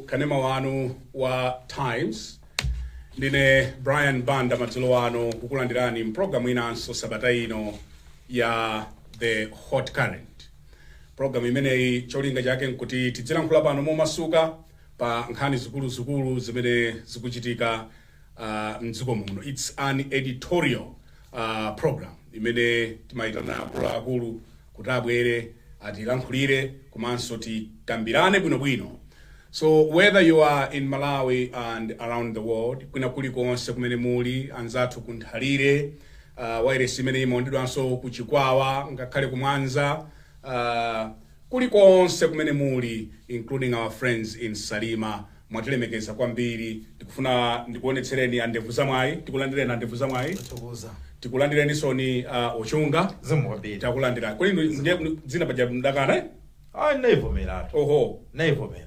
kanema wanu wa times ndine brian banda madzulo ano kukulandirani mpulogalamu inanso sabata ino ya the hot current pulogalamu imeneyi cholinga chake nkuti tidzilankhula pano momasuka pa nkhani zikuluzikulu zimene zikuchitika uh, mdziko muno its an editorial uh, program imene timayitana akuluakulu kuti abwere atilankhulire komanso tikambirane bwinobwino so whether you are in malawi and around the world kwina kulikonse kumene muli anzathu kunthalire uh, wairesi imene imaonedwanso kuchikwawa ngakhale kumwanza uh, kulikonse kumene muli including our friends in Salima mwatilemekeza kwambiri tikufuna ndikuonetsereni andevu za mwayi tikulandireni andevu za mwayi Tathokoza. tikulandireninsoni uh, a Chunga Zikomo kwambiri. takulandira kodi ndi- ndi- dzina paja mdakana eh? Ah, ndaivomeratu. oho Ndaivomera.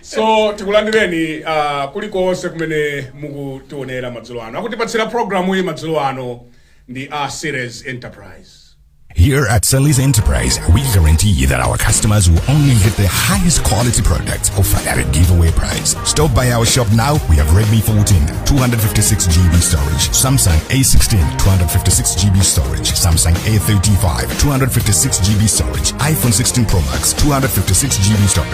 so tikulandireni uh, kulikonse kumene mukutionera madzulo ano akutipatsira programu iyi madzulo ano ndi a series enterprise Here at Sally's Enterprise, we guarantee that our customers will only get the highest quality products offered at a giveaway price. Stop by our shop now. We have Redmi 14, 256 GB storage, Samsung A16, 256 GB storage, Samsung A35, 256 GB storage, iPhone 16 Pro Max, 256 GB storage.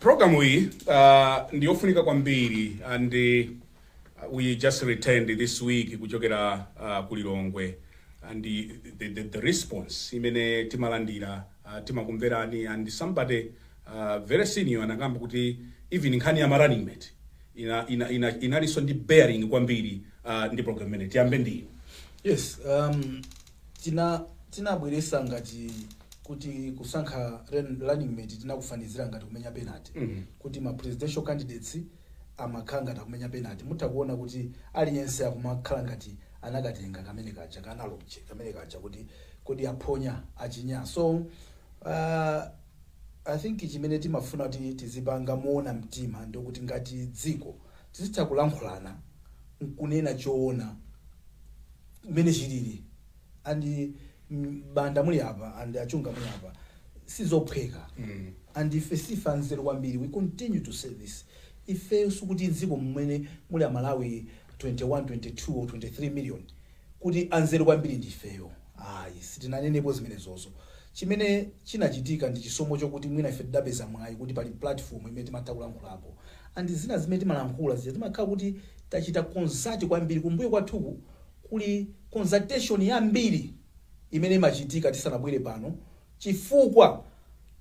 Program iyi uh, ndi yofunika kwambiri and uh, we just returned this week kuchokera uh, ku Lilongwe and the, the, the, the response imene timalandira uh, timakumverani and somebody uh, very senior anakamba kuti even nkhani ya running mate ina, ina, ina, inalinso ndi bearing kwambiri uh, ndi program imene tiyambe ndi Yes, um, Tina tinabweretsa ngati kuti kusankha ren running mate tinakufanizira ngati kumenya penalty kuti ma presidential candidates amakhala ngati akumenya penalty mutha kuona kuti aliyense akumakhala ngati anakatenga kamene kaja ka analogy kamene kaja kuti kodi aphonya achinya so aah I think chimene timafuna kuti tizipanga moona mtima ndikuti ngati dziko tizitha kulankhulana nkunena choona. mmene chilili and mm, banda muli apa and achunga muli apa sizophweka Mm. and ife sife anzeru kwambiri we continue to say this ife sikuti dziko mmene muli amalawi 21 22 or 23 million kuti anzeru kwambiri ndi ifeyo ayi sitinanenepo zimenezozo chimene chinachitika ndi chisomo chokuti mwina ife tidapeza mwayi kuti pali platform imene timatha kulankhulapo and zina zimene timalankhula zija timakhala kuti tachita consult kwambiri, kumbuyo kwathuku kuli consultation yambiri imene imachitika tisanabwere pano chifukwa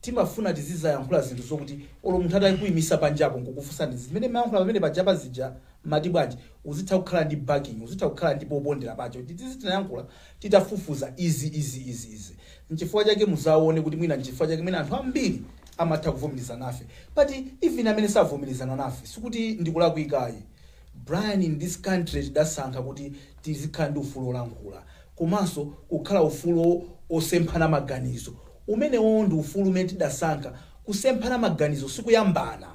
timafuna tizidzayankhula zinthu zokuti olo munthu atakuimisa panjapo nkukufunsani zimene mmayankhula pamene pajapa zija mmati bwanji uzitha kukhala ndi backing, uzitha kukhala ndi popondera pache kuti tizi tinayankhula titafufuza izi, izi, izi, izi. Nchifukwa chake mudzaone kuti mwina nchifukwa chake mwina anthu ambiri amatha kuvomerezana nafe but even amene savomerezana nafe sikuti ndikulakwika ayi Brian in this country tidasankha kuti tizikhala ndi ufulu olankhula komanso kukhala ufulu osemphana maganizo umenewowo ndi ufulu umene tidasankha kusemphana maganizo sikuyambana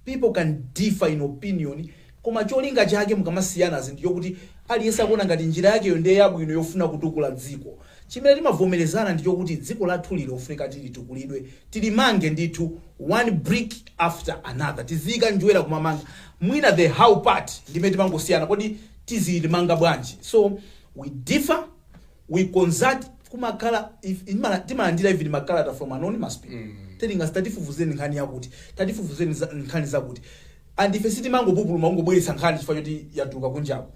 People can differ in opinion koma cholinga chake mukamasiyanazi ndichokuti aliyense akuona ngati njira yakeyo ndiye yabwino yofuna kutukula dziko. Chimene timavomerezana ndichokuti dziko lathuli lofunika tilitukulidwe, tilimange ndithu one brick after another. Tiziyika njerwa kumamanga. Mwina the how part ndimene timangosiyana kodi tizilimanga bwanji. So we differ. we consult kumakhala timalandira even makalata from anonymous people telling us tatifufuzeni nkhani yakuti tatifufuzeni za- nkhani zakuti and ife sitimangopupuluma kungobweretsa nkhani chifukwa choti yatuluka kunjaku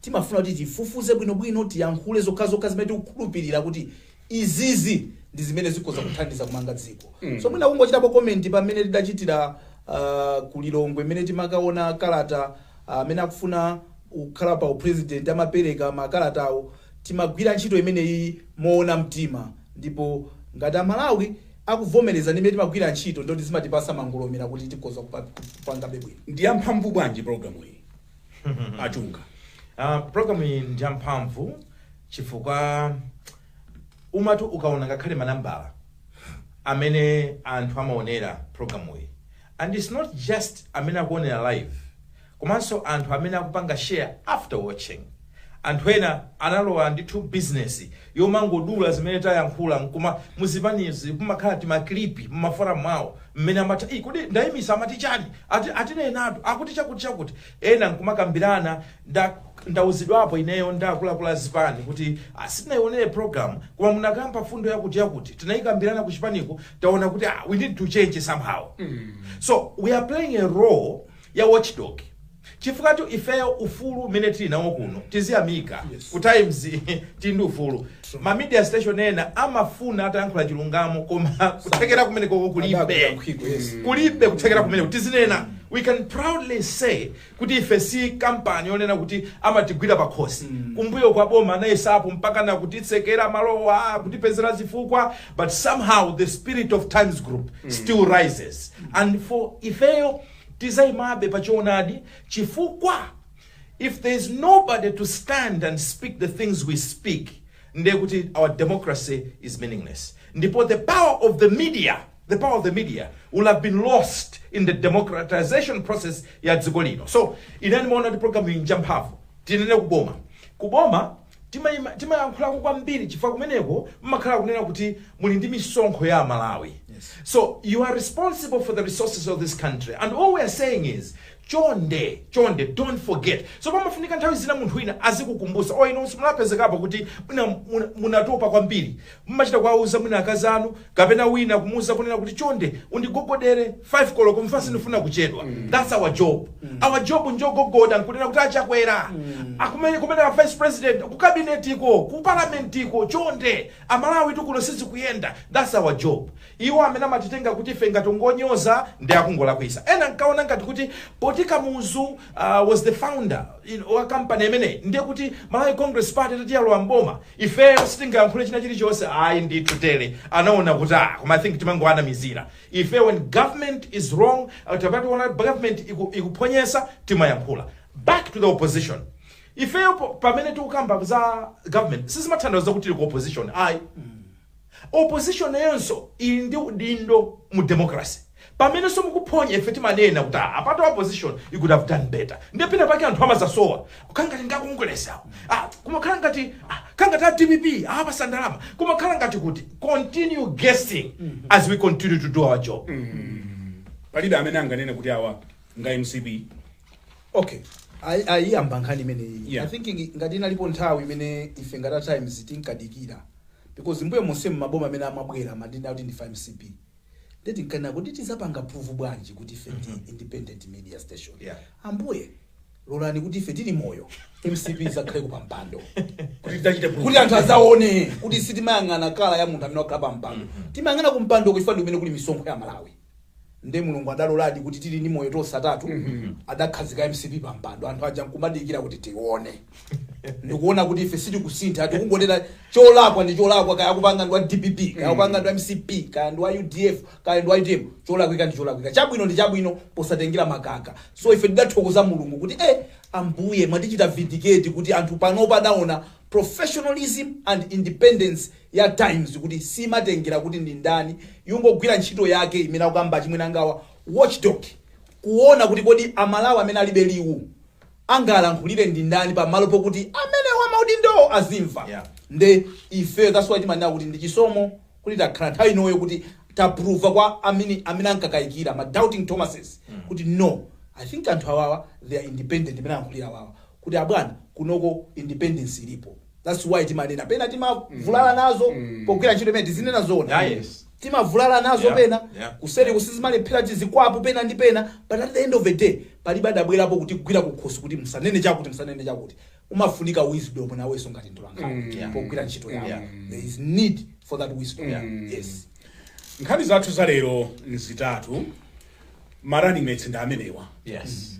timafuna kuti tifufuze bwinobwino tiyankhule zokhazokha zimene tikukhulupirira kuti izizi ndi zimene zikhoza kuthandiza kumanga dziko so mwina kungochitapo comment pamene tidachitira uh, ku Lilongwe mmene timakaona kalata Amene akufuna kukhala pa upresident amapereka makalata awo. Timagwira ntchito imeneyi moona mtima ndipo ngati a Malawi akuvomereza ndi mmene timagwira ntchito ndiye kuti zimatipatsa mangolomera kuti tikhoza kupangabe bwino. Ndiyamphamvu bwanji program iyi a Chunga? Program iyi ndiyamphamvu chifukwa umati ukaona ngakhale manambala amene anthu amaonera program iyi And it's not just amene akuonera live komanso anthu amene akupanga share after watching. Anthu ena analowa ndithu business yomangodula zimene tayankhula nkuma- muzipanizi kumakhala timaklipi mumaforamu mwawo mmene amati "Ii, kodi Ntonya ndi Mwakasungula amati chani ati atinenatu akuti chakuti chakuti ena nkumakambirana Nda ndauzidwapo ineyo ndi akuluakulu a zipani kuti ah, sitinaionere program koma munakamba mfundo yakuti yakuti tinaikambilana ku chipaniku taona kuti ah, we need to change somehow so we are playing a role ya watchdog chifukwatu ifeyo ufulu umene tili nawo kuno tiziyamika Yes. ku Times tili ndi ufulu ma media station ena amafuna atayankhula chilungamo koma kuthekera kumeneko kulibe Adakuyankhiko, yes. kulibe kuthekera kumeneko tizinena we can proudly say kuti ife si kampani yonena kuti amatigwira pakhosi mm. kumbuyoku boma linayesapo mpaka na kutitsekera malowa kutipezera zifukwa but somehow the spirit of Times Group mm. still rises mm. and for ifeyo tizayimabe pachoonadi chifukwa if there is nobody to stand and speak the things we speak ndekuti our democracy is meaningless ndipo the power of the media the power of the media will have been lost in the democratization process ya dziko lino so ine ndimaona kuti programu iyi njamphamvu tinene kuboma kuboma timayima- timayankhulako kwambiri chifukwa kumeneko mmakhala kunena kuti muli ndi misonkho ya amalawi so you are responsible for the resources of this country and all we are saying is chonde chonde don't forget so pamafunika nthawi zina munthu wina azikukumbusa o inu simunapezekepo kuti mwina muna- munatopa kwambiri Mumachita kuwauza mwina akazi anu kapena wina kumuuza kunena kuti chonde undigogodere 5 koloko mfa sindifuna kuchedwa that's our job our job njogogoda nkunena kuti achakwera akumene kumene a vice president ku kabinetiko ku parlamentiko chonde amalawi kuno sizikuyenda that's our job iwo amene amatitenga kuti ife ngati ngonyoza ndi akungolakwisa ena nkaona ngati kuti poti kamuzu uh, was the founder in, wa company imeneyi ndiye kuti malawi congress party poti yalowa m'boma ifeyo sitingayankhule china chilichonse ayi ndithu tere anaona kuti ah koma i think timangoanamizira ife when government is wrong uh, tikaona government iku- ikuphonya timayankhula back to the opposition ifeyo po- pamene tikukamba za government sizimatanthauza kuti tili ku opposition ayi Opposition nayonso ili ndi udindo mu democracy. Pamenenso mukuphonya ife timanena kuti ah apatu opposition you could have done better. Ndiye pena pake anthu amadzasowa. Kukhala ngati ndi a Congress awo. Ah kumakhala ngati ah khala ngati a dpp awapatsa ndalama. Kumakhala ngati kuti continue guessing as we continue to do our job. palibe amene anganene kuti awa nga mcp okay Ayi- ayiyamba nkhani imeneyi Yeah. i think ngi- ngati inalipo nthawi imene ife ngati a times tinkadikira because mbuyo monsemu maboma amene amabwera amatinena kuti ndife a mcp nde tinkanena kuti tidzapanga prove bwanji kuti ife ndi independent media station Yeah. ambuye lolani kuti ife tili moyo mcp idzakhaleko pampando kuti anthu adzaone kuti sitimayang'ana kala ya munthu amene wakhala pa mpando timayang'ana ku mpandoko chifukwa ndi kumene kuli misonkho ya amalawi nde mulungu adaloladi kuti tili ndi moyo tonse atatu adakhazika mcp pa mpando anthu aja nkumadikira kuti tione ndikuona kuti ife sitikusintha tikungotera cholakwa ndi cholakwa kaya akupanga ndi wa dpp kaya akupanga ndi wa mcp kaya ndi wa udf kaya ndi wa utm cholakwika ndi cholakwika chabwino ndi chabwino posatengera mtundu so ife tidathokoza mulungu kuti eh ambuye mwatichita vindicate kuti anthu panopa adaona professionalism and independence ya Times kuti simatengera kuti ndi ndani, ikungogwira ntchito yake imene akukamba achimwenangawa, watchdog, kuona kuti kodi Amalawi amene alibe liwu angawalankhulire ndi ndani pa malo pokuti amene wa maudindowo azimva. Yeah. Nde ifeyo that's why timanena kuti ndi chisomo kuti takhala nthawi inoyo kuti tapruva kwa amene amene ankakayikira ma doubting Thomases kuti no I think anthu awawa they are independent imene alankhulira awawa kuti abwana kunoko independence ilipo thats why timanena pena timavulala nazo pogwira ntchito imene tizinena zona Yeah, yes. timavulala nazo Yeah, pena yeah. kuseri kusizimalephera tizikwapu pena ndi pena but at the end of the day palibe adabwerapo kutigwira kukhosi kuti musanene chakuti musanene chakuti umafunika wisdom nawenso ngati mtolankhani Yeah. pogwira ntchito yako Yeah. there is need for that wisdom yes nkhani zathu za lero nzitatu ma running mates ndi amenewa yes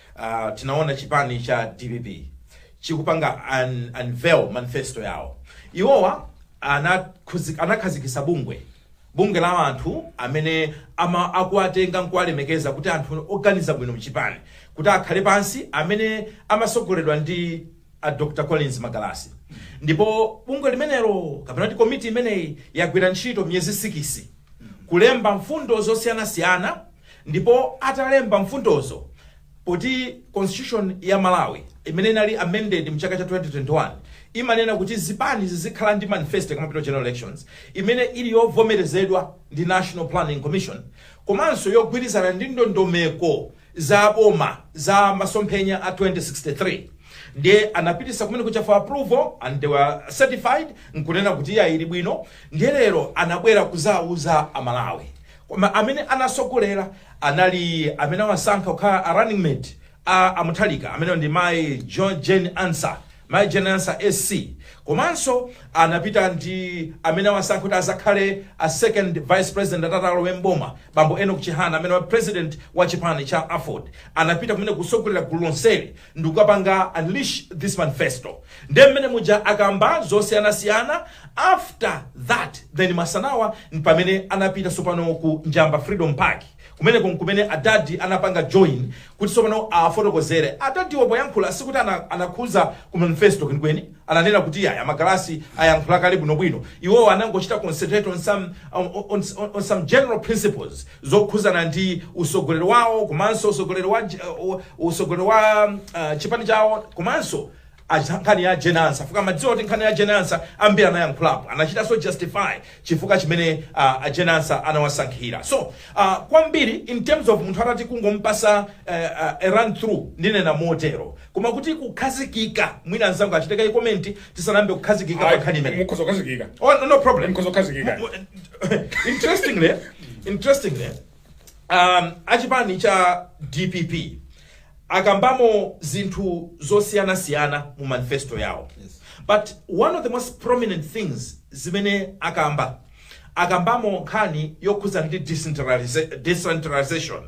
Uh, tinaona chipani cha dpp chikupanga un, unveil manifesto yawo iwowa anakhuzi- anakhazikisa bungwe bungwe la anthu amene ama akuwatenga nkuwalemekeza kuti anthu oganiza bwino mchipani kuti akhale pansi amene amasogoledwa ndi a dr collins magalasi ndipo bungwe limenelo kapena kuti komiti imeneyi yagwira ntchito miyezi sikisi kulemba mfundo zosiyanasiyana Ndipo atalemba mfundozo poti constitution ya Malawi imene inali amended mchaka cha 2021 imanena kuti zipani zizikhala ndi manifesto zikamapita ku general elections imene ili yovomerezedwa ndi National Planning Commission komanso yogwirizana ndi ndondomeko za boma za masomphenya a 2063 ndiye anapitisa kumeneku for approval and they were certified nkunena kuti iya ili bwino ndiye lero anabwera kuzauza amalawi Koma amene anasogolera anali amene awasankha kukhala a running mate a a Mutharika amene ndi mayi Jane Ansah, mayi Jane Ansah SC. Komanso anapita ndi amene awasankha kuti azakhale a second vice president atatalowa m'boma, bambo Enock Chihana amenewa president wa chipani cha aford. Anapita kumeneku kusogolera gulu lonseli. ndikukapanga unleash this manifesto nde mmene muja akamba zosiyanasiyana after that then masanawa mpamene anapita sopano ku njamba freedom park kumeneko nkumene adadi anapanga join kuti sopano afotokozere adadiwo poyankhula sikuti ana- anakhuza ku manifesto kwenikweni ananena kuti ayi a magalasi ayankhula kale bwinobwino iwowo anangochita concentrate on some, on, on, on, on some general principles zokhuzana ndi usogoleri wawo komanso usogoleri wa uh, usogoleri wa uh, chipani chawo komanso acha- nkhani ya Jane Ansah fukwa mmadziwa kuti nkhani ya Jane Ansah ambiri anayankhulapo anachitanso justify chifukwa chimene uh, a Jane Ansah anawasankhira so uh, kwambiri in terms of munthu atati kungompasa uh, uh, a run through ndinena motero koma kuti kukhazikika mwina anzangu achite kaye comment tisanayambe kukhazikika pa nkhani imeneyi mukhoza kukhazikika oh, no, no problem Mukhoza kukhazikika. Mu- mu- interestingly interestingly um, achipani cha dpp akambamo zinthu zosiyana siyana mu manifesto yawo Yes. but one of the most prominent things zimene akamba akambamo nkhani yokhudzana ndi decentraliza- decentralization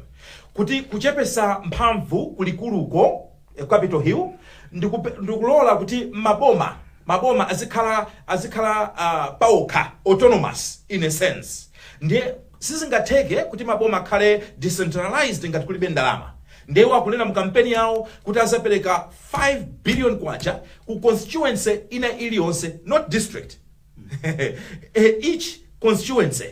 kuti kuchepesa mphamvu kulikuluko eh, capital hill ndi kupe- ndi kulola kuti maboma maboma azikhala azikhala uh, paokha autonomous in a sense ndiye Sizingatheke kuti maboma akhale decentralized ngati kulibe ndalama. Ndiye iwo akunena mu kampeni yawo kuti azapereka 5 billion kwacha ku constituency ina iliyonse not district each constituency.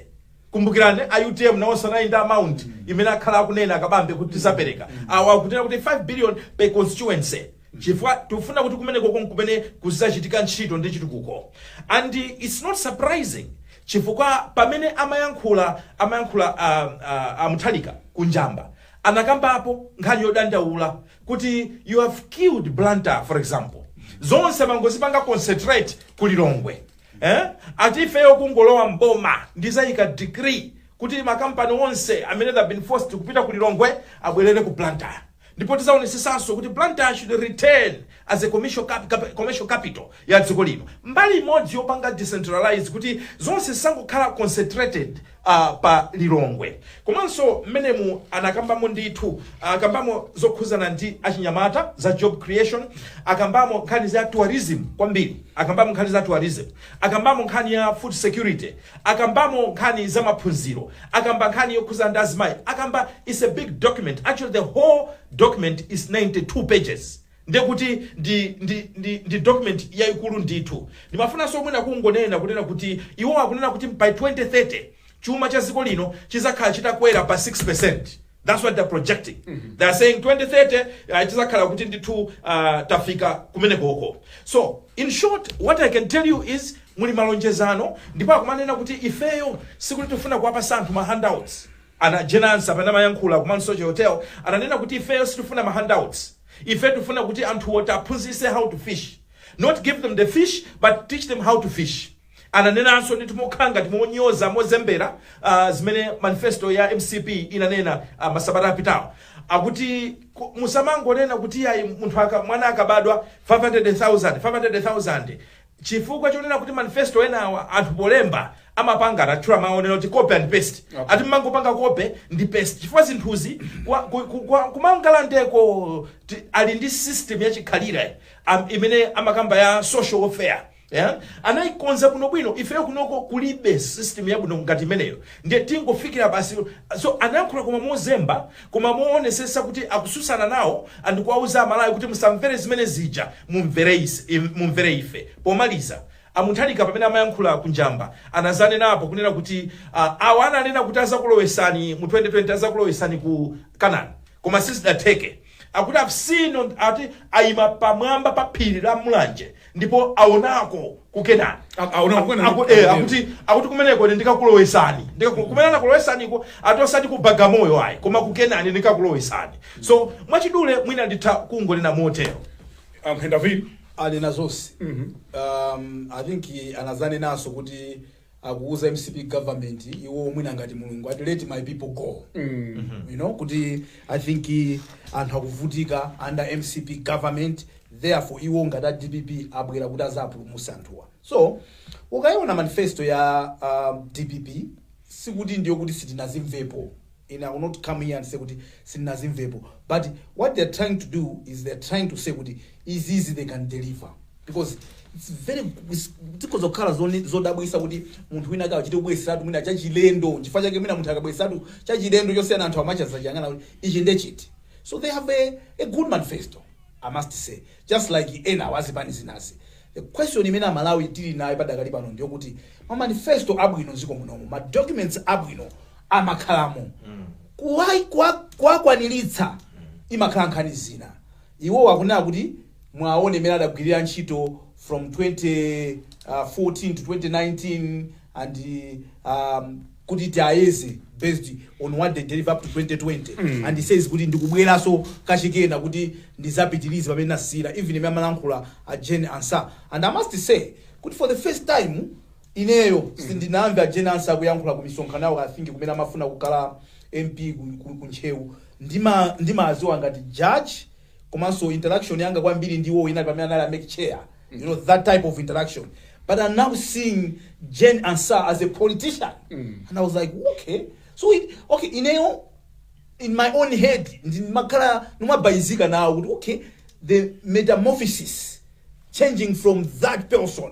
Kumbukirani a utm nawonso anali ndi amount imene akhala akunena a Kabambe kuti tizapereka. Awa akunena kuti 5 billion per constituency chifukwa tikufuna kuti kumenekoko nkumene kuzachitika ntchito ndi chitukuko and it's not surprising chifukwa pamene amayankhula amayankhula a, a, a Mutharika ku njamba anakambapo nkhani yodandaula kuti you have killed blantyre for example zonse mangozipanga concentrate ku lilongwe eh? ati ifeyo kungolowa mboma ndizayika decree kuti makampani onse amene have been forced kupita ku lilongwe abwerere ku blantyre ndipo tizaonetsesanso kuti Blantyre should return as a commercial, cap, cap, commercial capital ya dziko lino mbali imodzi yopanga decentralize kuti zonse zisangokhala concentrated uh, pa Lilongwe komanso mmenemu anakambamo ndithu akambamo zokhuzana ndi achinyamata za job creation akambamo nkhani za tourism kwambiri akambamo nkhani za tourism akambamo nkhani ya food security akambamo nkhani za maphunziro akamba nkhani yokhuzana ndi azimayi akamba it's a big document actually the whole document is 92 pages ndekuti ndi, ndi, ndi, ndi document yayikulu ndithu ndimafunanso mwina kungonena kunena kuti iwo akunena kuti by 2030 chuma cha dziko lino chizakhala chitakwera pa 6 That's what they're projecting. Mm -hmm. They're saying 2030 uh, tizakhala kuti ndithu uh, tafika kumenekoko. So, in short, what I can tell you is muli malonjezano ndipo akumanena kuti ifeyo sikuti tifuna kuwapasa anthu ma handouts. A Jane Ansah pamene amayankhula ku Mount Soche Hotel ananena kuti ifeyo sitifuna ma handouts. Ife tifuna kuti anthuwo tiwaphunzise how to fish. Not give them the fish, but teach them how to fish. Ananenanso, ndithu mokhala ngati monyoza, mozembera, ah, zimene manifesto ya mcp inanena ah, masabata apitawo akuti ku- musamangonena kuti yayi munthu aka, mwana akabadwa 500,000 500,000 chifukwa chonena kuti manifesto enawa anthu polemba amapanga atchula mawu onena kuti copy and paste Okay. ati mmangopanga copy ndi paste chifukwa zinthuzi kwa- ku- ku- kwa- ku Mangalandeko ti- ali ndi system yachikhalire am- imene amakamba ya social welfare Yeah? anaikonza bwinobwino ifeyo kunoko kulibe system yabwino ngati imeneyo ndiye tingofikira basi so anayankhula koma mozemba koma moonesesa kuti akususana nawo and kuwauza amalawi kuti musamvere zimene zija mumvere ise- im- mumvere ife pomaliza a Mutharika pamene amayankhula ku Njamba anazanenapo kunena kuti uh, awa ananena kuti azakulowesani mu 2020 azakulowesani ku Kenani koma sizidatheke akuti tsono ati ayima pamwamba pa phiri la mulanje ndipo awonako ku kenani A- awonako ku Kenani. Aku- eh, akuti akuti kumeneko ine ndikakulowesani Ndikaku- kumene anakulowesaniko ati osati ku Bagamoyo ayi koma ku kenani ndikakulowesani so mwachidule mwina nditha kungonena motero a Mutharika anena zonse um, i think anazanenanso kuti akuuza mcp government iwo mwina ngati mulungu ati let my people go you know kuti i think anthu akuvutika under mcp government therefore iwo ngati a dpp abwera kuti azapulumutse anthuwa so ukayiona manifesto ya uh, dpp sikuti ndiyo kuti sitinazimvepo ine i will not come here and say kuti sitinazimvepo but what they are trying to do is they are trying to say kuti izizi they can deliver because its very zikhoza kukhala zone- zodabwisa kuti munthu wina akachite kubweseratu mwina chachilendo chifukwa chake mwina munthu akabweseratu chachilendo chosiyana anthu amadzachiyang'ana kuti ichi ndechiti so they have a, a good manifesto i must say just like ena wazipani zinazi the question imene amalawi tili nayo padakali pano ndiyokuti ma manifesto abwino m'dziko munomu ma documents abwino amakhalamo kuwa- kuwa- kuwakwaniritsa imakhala nkhani zina iwo akunena kuti muwaone mmene adagwirira ntchito from 2014 to 2019 and um, kuti tiayeze based on what they deliver up to 2020 and he says kuti ndikubweranso kachikena kuti ndizapitirize pamene nasiyira even mmene amalankhula a Jane Ansah and i must say kuti for the first time Ineyo sindinamve a Jane Ansah akuyankhula ku misonkhano yawo i think kumene amafuna kukhala mp ku ku ntcheu ndima ndimaaziwa ngati judge komanso interaction yanga kwambiri ndi iwowo inali pamene anali a mec chair you know that type of interaction but i'm now seeing jane ansah as a politician and i was like okay so it, okay ineyo in my own head ndimakhala ndimabalalika nawo kuti okay the metamorphosis changing from that person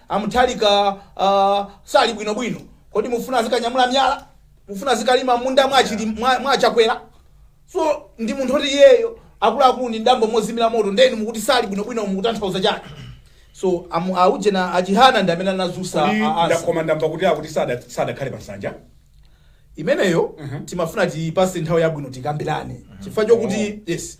A Mutharika sali bwino bwino. Kodi mufuna azikanyamula myala? Mufuna azikalima mmunda mwa achili mwa, mwa achakwera? So ndi munthu oti iyeyo akuluakulu ndi m'dambo mozimira moto ndeni mukuti sali bwino bwino mukutanthauza chani? So amu auje na achihana ndi amene anazusa Kodi a- asa. nda- koma ndamva kuti akuti sada- sadakhale pa nsanja. Imeneyo Mhm. timafuna tipase nthawi yabwino tikambirane. Chifukwa chokuti yes.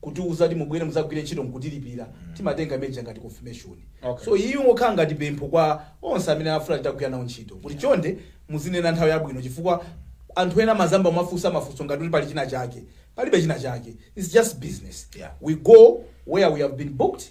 kutiuza kuti mubwere mudzagwire ntchito nkutilipira timatenga imene ija ngati confirmation Okay. so iyi ingokhala ngati pempho kwa onse amene afuna titagwira nawo ntchito kuti chonde muzinena nthawi yabwino chifukwa anthu ena amadzayamba kumafunsa mafunso ngati kuti pali china chake palibe china chake its just business Yeah. we go where we have been booked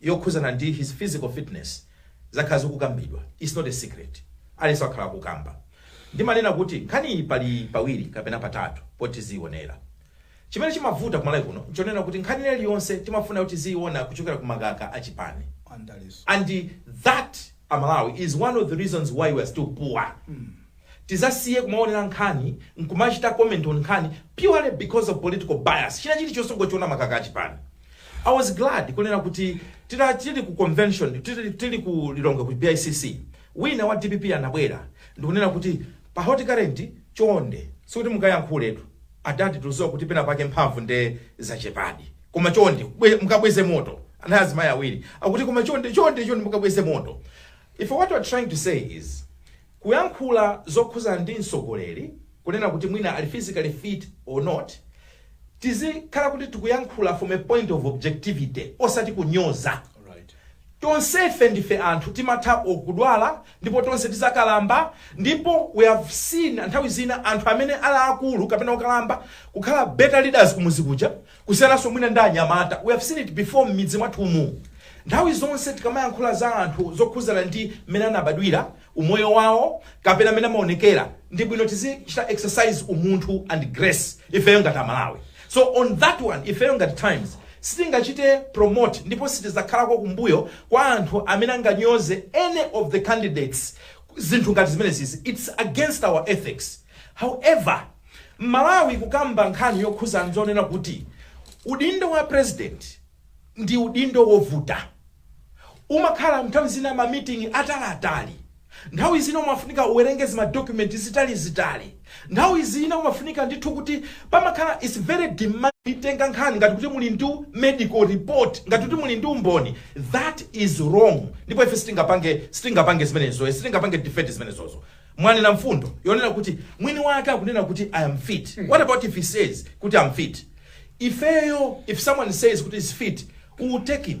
yokhuzana ndi his physical fitness zakhala zikukambidwa its not a secret aliyense wakhala akukamba ndimanena kuti nkhaniyi pali pawiri kapena patatu poti tiziyionera chimene chimavuta kumalawi kuno nchonena kuti nkhani ina iliyonse timafuna kuti tiziyiona kuchokera ku makaka achipani and that amalawi is one of the reasons why we are still poor Tizasiye kumaonera nkhani nkumachita comment on nkhani purely because of political bias. China chili chonse kungochiona makaka a chipani. I was glad kunena kuti tili ku convention tili, tili ku Lilongwe ku BICC wina wa DPP anabwera ndikunena kuti pa hot current chonde sikuti mukayankhuletu adadi tuziwa kuti pena pake mphamvu nde zachepadi koma chonde bwe- mukabweze moto anayi azimayi awiri akuti koma chonde chonde chonde mukabweze moto if what we're trying to say is Kuyankhula zokhuza ndi mtsogoleri kunena kuti mwina ali physically fit or not, tizikhala kuti tikuyankhula from a point of objectivity osati kunyoza. Tonsefe ndife anthu timatha or kudwala ndipo tonse tizakalamba ndipo we have seen nthawi zina anthu amene ali akulu kapena okalamba kukhala better leaders kumuzi kuja. kusiyananso mwina ndi anyamata we have seen it before m'midzi mwathumu nthawi zonse tikamayankhula za anthu zokhuzana ndi mmene anabadwira umoyo wawo kapena mmene amaonekera ndi bwino tizichita exercise umunthu and grace ifeyo ngati amalawi so on that one ifeyo ngati times sitingachite promote ndipo sitizakhalako kumbuyo kwa anthu amene anganyoze any of the candidates zinthu ngati zimenezizi it's against our ethics However, Mmalawi kukamba nkhani yokhuza nzonena kuti udindo wa president ndi udindo wovuta. Umakhala nthawi zina ma meeting ataliatali. Nthawi zina umafunika uwerenge zima document zitalizitali. Nthawi zina umafunika ndithu kuti pamakhala it's very demanding. Kuitenga nkhani ngati kuti muli ndi medical report, ngati kuti muli ndi umboni. That is wrong. Ndipo ife sitingapange zimenezo. Sitingapange defend zimenezozo. Mwanena mfundo yonena kuti mwini wake akunena kuti I am fit. What about if he says kuti I'm fit? Ifeyo if someone says kuti is fit, we will take him.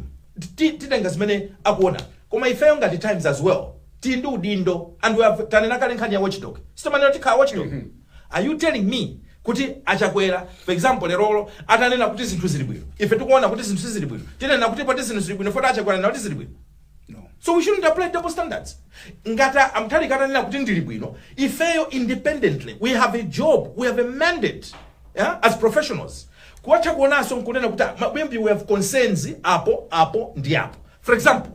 Ti- Titenga zimene akuona. Koma ifeyo ngati Times as well. Tili ndi udindo and we have tanena kale nkhani ya watchdog. Sitimanena kuti tikhala watchdog. Are you telling me kuti achakwera for example lerolo atanena kuti zinthu zili bwino ife tikuona kuti zinthu sizili bwino tinena kuti poti zinthu zili bwino poti achakwera anena kuti zili bwino No. So we shouldn't apply double standards. Ngati a Mutharika atanena kuti ndili bwino. Ifeyo independently we have a job, we have a mandate yeah, as professionals. Kuwatha kuonanso nkunena kuti "Ah, mabwana maybe we have concerns apo apo ndi apo. For example,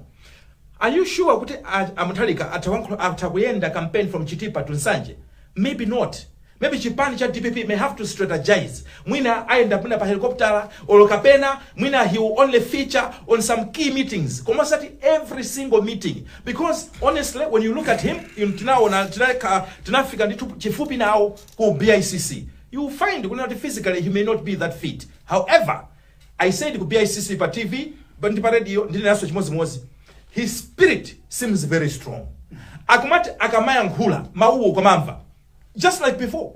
are you sure kuti a- a Mutharika atha wankho- atha kuyenda campaign from Chitipa to Nsanje? Maybe not. Maybe chipani cha dpp may have to strategize mwina ayenda mwina pa helicopter or kapena mwina he will only feature on some key meetings koma osati every single meeting because honestly when you look at him in- tinaona tinaka- tinafika ndithu chifupi nawo ku bicc you will find kunena kuti physically he may not be that fit however i said ku bicc pa tv but ndi pa radio ndinenanso chimodzimodzi his spirit seems very strong akumati akamayankhula mawuwo ukamamva just like before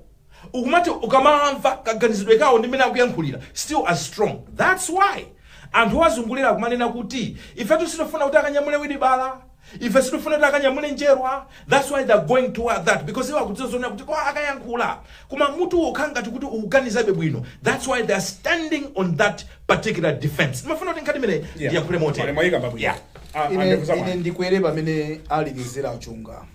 ukumati ukamamva kaganizidwe kawo ndi mmene akuyankhulira still as strong that's why anthu owazungulira akumanena kuti ifetu sitifuna kuti akanyamule wilibala ife sitifuna kuti akanyamule njerwa that's why they're going toward that because iwo akudziwa zonena kuti kaya akayankhula koma mutu ukukhala ngati kuti ukuganizabe bwino that's why they're standing on that particular defense ndimafuna kuti nkhani imeneyi ndiyankhule motero Mwayikamba bwino. Yeah. Ah, ine, andekuzama. ine ndikwere pamene alekezera achunga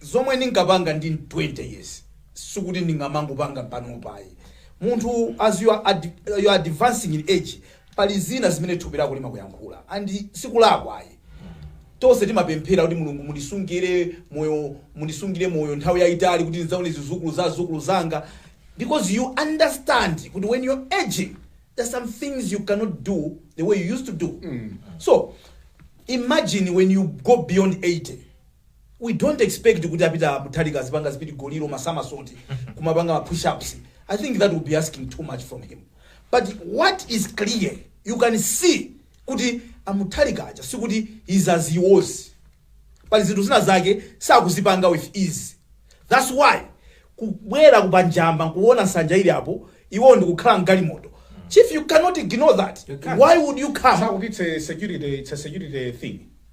zomwe ndinkapanga ndili 20 years sikuti ndingamangopanga panopa ayi munthu as you are, ad, you are advancing in age pali zina zimene thupi lako limakuyankhula and sikulakwa ayi tonse timapemphera kuti mulungu mundisungire moyo mundisungire moyo nthawi yayitali kuti ndidzaone zizukulu za zizukulu zanga because you understand kuti when you're aging there's some things you cannot do the way you used to do so imagine when you go beyond 80 we don't expect kuti a Peter Mutharika azipanga zipidigoli masamasoti kumapanga ma pushups i think that will be asking too much from him but what is clear you can see kuti a Mutharika aja sikuti is as he was pali zinthu zina zake sakuzipanga with ease that's why kubwera ku pa Njamba nkuona nsanja ili apo iwo ndikukhala mgalimoto chief you cannot ignore that You can't. why would you come Sakutitse security, it's a security thing.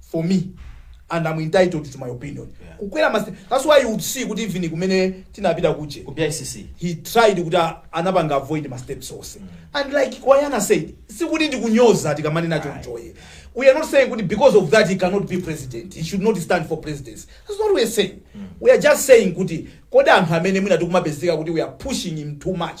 for me and I'm entitled to my opinion Yeah. kukwera mas that's why you would see kuti even kumene tinapita kuje ku bicc he tried kuti a- anapanga avoid ma steps onse and like Gawana said sikuti ndikunyoza tikamanena chonchoye we are not saying kuti because of that he cannot be president he should not stand for presidency that's not what we are saying we are just saying kuti kodi anthu amene mwina tikumapezeka kuti we are pushing him too much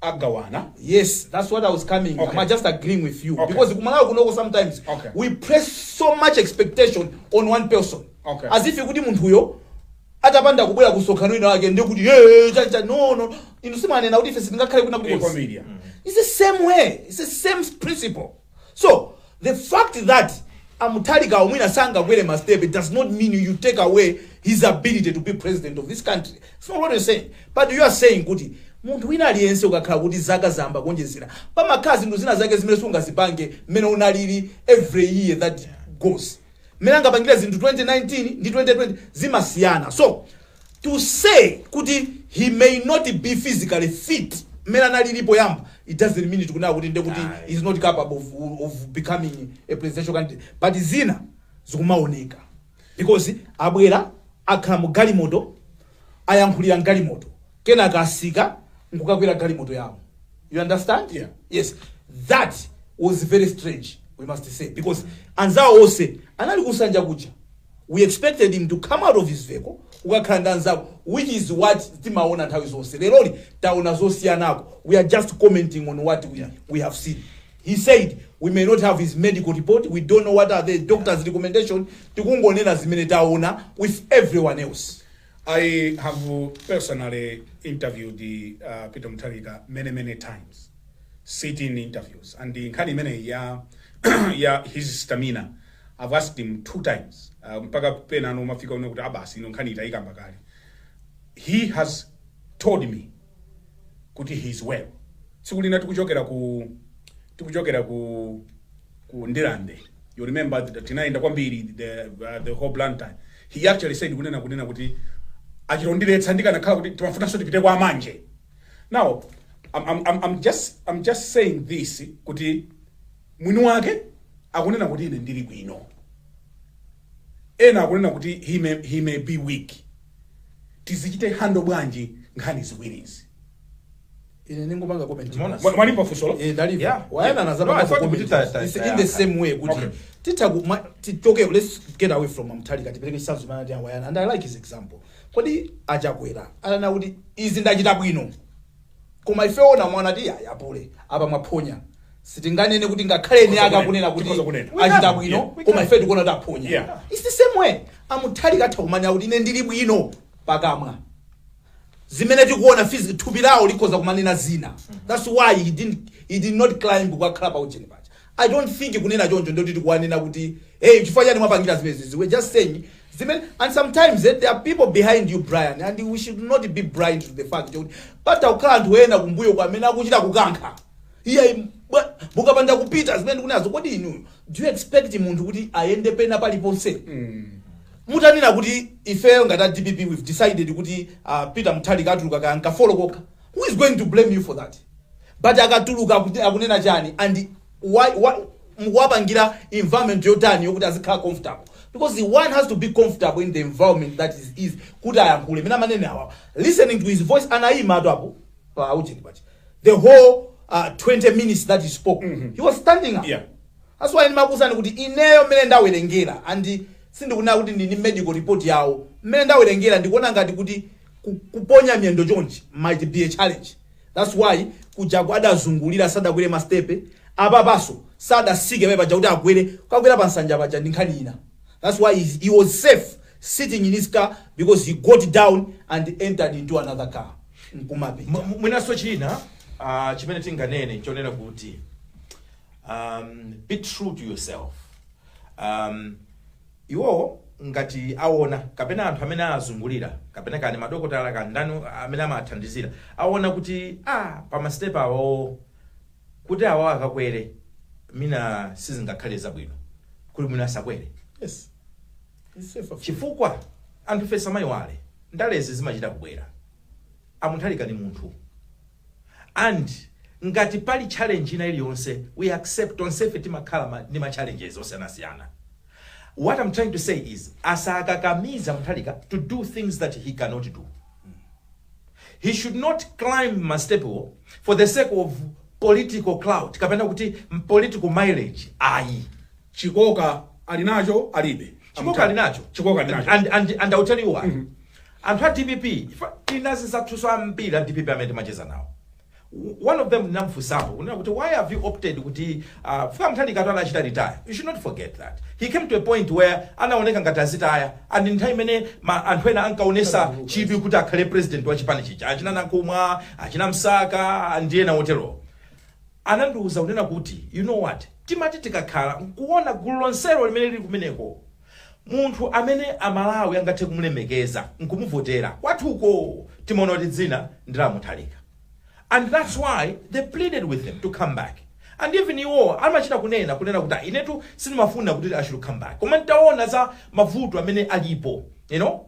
agawana yes that's what i was coming okay. i'm just agreeing with you okay. because kumalawi kunoko sometimes okay. we place so much expectation on one person okay. as if kuti munthuyo atapanda kubwera kumsonkhano wina wake ndekuti hey, chatha no no inu si munena kuti ife sitingakhale kuna kuti it's the same way it's the same principle So the fact that a Mutharikawo mwina sangakwere ma step it does not mean you take away his ability to be president of this country. It's not what you're saying. But you are saying kuti munthu wina aliyense ukakhala kuti zaka zayamba kuonjezera pamakhala zinthu zina zake zimene siungazipange mmene unalili every year that goes. mmene angapangire zinthu 2019 ndi 2020 zimasiyana so to say kuti he may not be physically fit mmene analili poyamba it doesn't mean tikunena kuti nde kuti he is not capable of, of becoming a presidential candidate but zina zikumaoneka because abwera akhala mu galimoto ayankhulira mgalimoto kenaka atsika nkukakwera galimoto yawo you understand yeah. yes that was very strange we must say because anzawo onse anali kusanja kuja we expected him to come out of his vehicle ukakhala ndi anzako which is what timaona nthawi zonse leroli taona zosiyanako we are just commenting on what we, we have seen he said we may not have his medical report we don't know what are the doctor's recommendation tikungonena zimene taona with everyone else I have personally interviewed uh, Peter Mutharika many many times sit-in interviews and nkhani imeneyi ya ya his stamina I've asked him two times uh, mpaka penanso umafika ponena kuti ah basi ino nkhani tinayikamba kale he has told me kuti he is well tsiku lina tikuchokera ku tikuchokera ku ku Ndirande you remember that tinayenda kwambiri the, uh, the whole blantyre he actually said kunena kunena kuti achita kundiletsa ndikanakhala kuti timafunanso tipite kwa Manje now I'm, I'm, I'm, I'm, just, i'm just saying this kuti mwini wake akunena kuti ine ndili bwino Ena akunena kuti he may he may be weak. Tizichite handle bwanji nkhani ziwirizi? Ine ndingopanga comment Umeona? imodzi. Mwa- mwalimva funsolo? Eh, ndalimva. Yeah. Wayana Yeah. adzapanga No, I thought comment kuti ta- ta- It's ta- in the yeah. same way kuti Okay. titha ku- ma- tichoke let's get away from Mutharika tipereke chitsanzo chimene anati Wayana and I like his example. Kodi achakwera ananena kuti izi ndachita bwino. koma ife oona mwina nkuti ayi apule apa mwaphonya sitinganene kuti ngakhale eni ake akunena kuti Tikhoza kunena. achita bwino Yeah, we koma can. ife tikuona kuti aphonya Yeah. its the same way a Mutharika atha kumanena kuti ine ndili bwino pakamwa zimene tikuona physi- thupi lawo likhoza kumanena zina that's why he didn't, he did not climb kukakhala pa ujeni paja I don't think kunena choncho ndoti tikuwanena kuti hey chifukwa chani mwapangira zimenezi we're just saying zimene and sometimes eh, there are people behind you Brian and we should not be blind to the fact kuti patha kukhala anthu ena kumbuyo kwa amene akuchita kukankha iye bwa- mukapanda kupita zimene ndikunenazo kodi inuyo do you expect munthu kuti ayende pena paliponse mutanena kuti ifeyo ngati a dpp we've decided kuti uh, peter Mutharika atuluka ka nkafolo kokha who is going to blame you for that but akatuluka akuti- akunena chani and why, why, mukuwapangira environment yotani yokuti azikhala comfortable because one has to be comfortable in the environment that is is kuti ayankhule m'mene manenera awawa listening to his voice anayima atu apo pa ujeni paja the whole uh, 20 minutes that he spoke he was standing up Yeah. that's why ndimakuuzani kuti ineyo mmene ndawerengera and sindikunena kuti ndili ndi medical report yawo mmene ndawerengera ndikuona ngati kuti ku- kuponya miyendo chonchi might be a challenge That's why kujaku adazungulira sadakwere ma step apapaso sadasike papaja kuti akwere kukwera pa nsanja paja ndi nkhani ina that's why he, he was safe sitting in his car because he got down and entered into another car nkumapita M- m- mwinanso china ah, chimene tinganene nchonena kuti um, be true to yourself um, Iwo ngati awona, kapena anthu amene azungulira, kapena kaya ndi madokotala kaya ndani amene amathandizira, awona kuti aah pama step awawowo kuti awawo akakwere mwina sizingakhale zabwino, kuli bwino asakwere. Yes. It's safer for you. Chifukwa anthufe tisamaiwale, ndalezi zimachita kubwera. A Mutharika ndi munthu and ngati pali challenge ina iliyonse we accept tonsefe timakhala ma, ndi ma challenges osiyanasiyana what I'm trying to say is asakakamize a Mutharika to do things that he cannot do he should not climb mastepewo for the sake of political clout kapena kuti m- political mileage ayi chikoka ali nacho alibe chikoka ali nacho chikoka ali nacho and, and, and I'll tell you why Anthu a dpp chifukwa tili ndi azinzathuso ambiri a dpp amene timacheza nawo. One of them ndinamufunsapo kunena kuti why have you opted kuti uh, a Mutharikatu anachita retire. You should not forget that. He came to a point where anaoneka ngati azitaya and nthawi imene anthu ena ankaonesa chidwi kuti akhale president wa chipani chija achina Nankhumwa, achina Msaka ndi ena oterowo anandiuza kunena kuti you know what timati tikakhala nkuona gulu lonselo limene lili kumeneko Munthu amene a Malawi angathe kumulemekeza nkumuvotera kwathuko timaona kuti dzina ndi la Mutharika and that's why they pleaded with him to come back and even iwowa amachita kunena kunena kuti "Ah, inetu sindimafuna kuti I should come back koma ntaona za mavuto amene alipo you know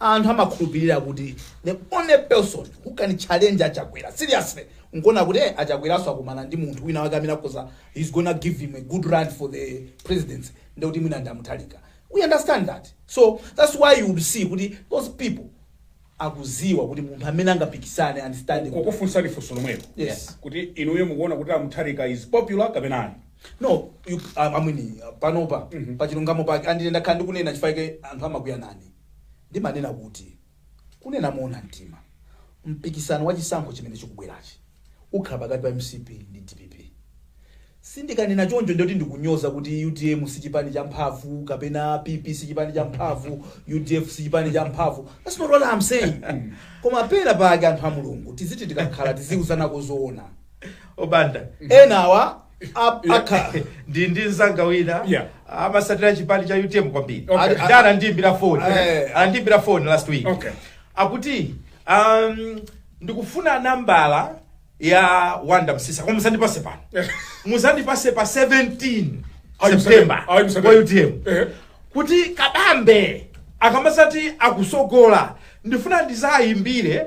Anthu amakhulupilira kuti the only person who can challenge a Chakwera seriously nkuona kuti eh, a Chakweraso akumana ndi munthu wina wake amene akhoza he's gonna give him a good run for the presidency ndoti mwina ndi a Mutharika. We understand that. So that's why you would see kuti those people akuziwa kuti munthu amene angapikisane understand kukufunsani funso lomwelo Yes. kuti inuyo mukuona kuti a Mutharika is popular kapena ayi no you, um, amwini panopa pachilungamo pake and ine ndakhala ndikunena chifukwa anthu amakwiya nane ndimanena kuti, Kunena moona mtima, mpikisano wa chisankho chimene chikubwerachi ukhala pakati pa mcp ndi dpp. Sindikanena choncho ndiye kuti ndikunyoza kuti utm si chipani cha mphamvu kapena PP si chipani cha mphamvu, udf si chipani cha mphamvu. That's not what I'm saying. Koma pena pake anthu a Mulungu tiziti tikakhala tiziuzanako zoona. Obanda, enawa. Ap- akha ndi nzanga wina Yeah. amasatira chipani cha utm kwambiri Okay. Ali- ali- anandiimbira phone Eh. anandiimbira phone last week Okay. akuti um, ndikufuna nambala ya wanda msisa koma musandipase pano musandipase pa 17 Ayi, september ayi, msandipase. kwa utm Eh. kuti kabambe akamasati akutsogola ndifuna ndizayimbire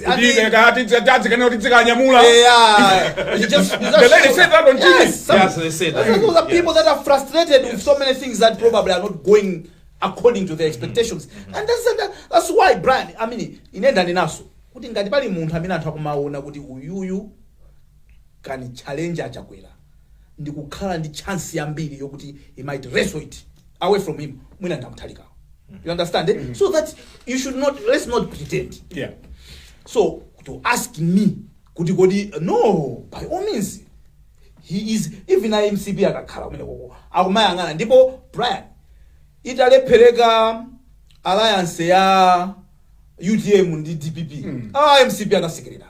Tibe kati dzadzi kana kuti dzikanyamula. Yeah. It just- it just The lady shows- said that on TV. Yes, some- Yes, they said that. some of the people that are frustrated with so many things that probably are not going according to their expectations and that's, that, that's why brian i mean inenda ndinaso kuti ngati pali munthu amene anthu akumaona kuti uyuyu can challenge achakwera ndi kukhala ndi chance yambiri yokuti he might wrestle it away from him mwina ndi a Mutharikawo you understand eh? so that you should not let's not pretend yeah so to ask me kuti kodi no by all means he is even a mcp akakhala kumene koko akumayang'ana ndipo brian italephereka alliance ya utm ndi dpp ah, mcp anasekerera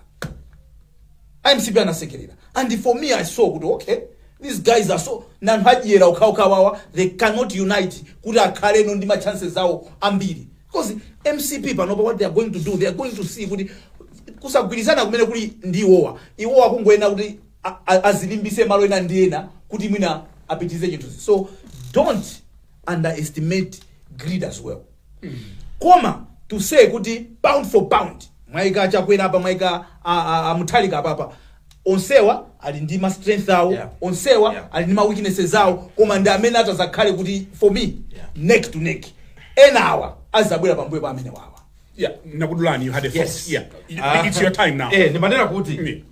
mcp anasekerera and for me i saw kuti okay these guys are so ndi anthu adyera okhaokhawawa they cannot unite kuti akhaleno ndi machances awo ambiri because mcp panopa what they are going to do they are going to see kuti kusagwirizana kumene kuli ndi iwowa iwowa kungoyenera kuti a- a- azilimbitse malo ena ndi ena kuti mwina apitize chinthu so don't underestimate greed as well koma to say kuti pound for pound mwaika chakwera apa mwaika a- a- a mutharika apapa onsewa ali ndi ma strength awo Yeah. onsewa Yeah. ali ndi ma weaknesses awo koma ndi amene atazakhale kuti for me neck to neck enawa azabwera pambuyo pa amene wawa Yeah, nakudulani, you had a thought. Yes. Yeah. It- Ah. It's your time now. Eh, ndimanena kuti Mm.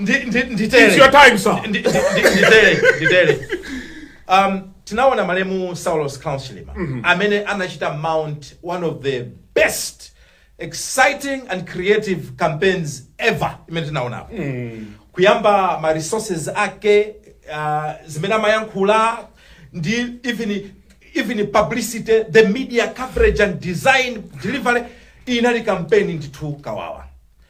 ndi ndi It's your time, sir. Ndi- ndi- ndi- nditele nditele um tinaona malemu Saulos Klaus Chilima amene anachita mount one of the best exciting and creative campaigns ever imene tinaonapo kuyamba ma resources ake uh, zimene amayankhula ndi even even publicity the media coverage and design delivery inali campaign ndithu kawawa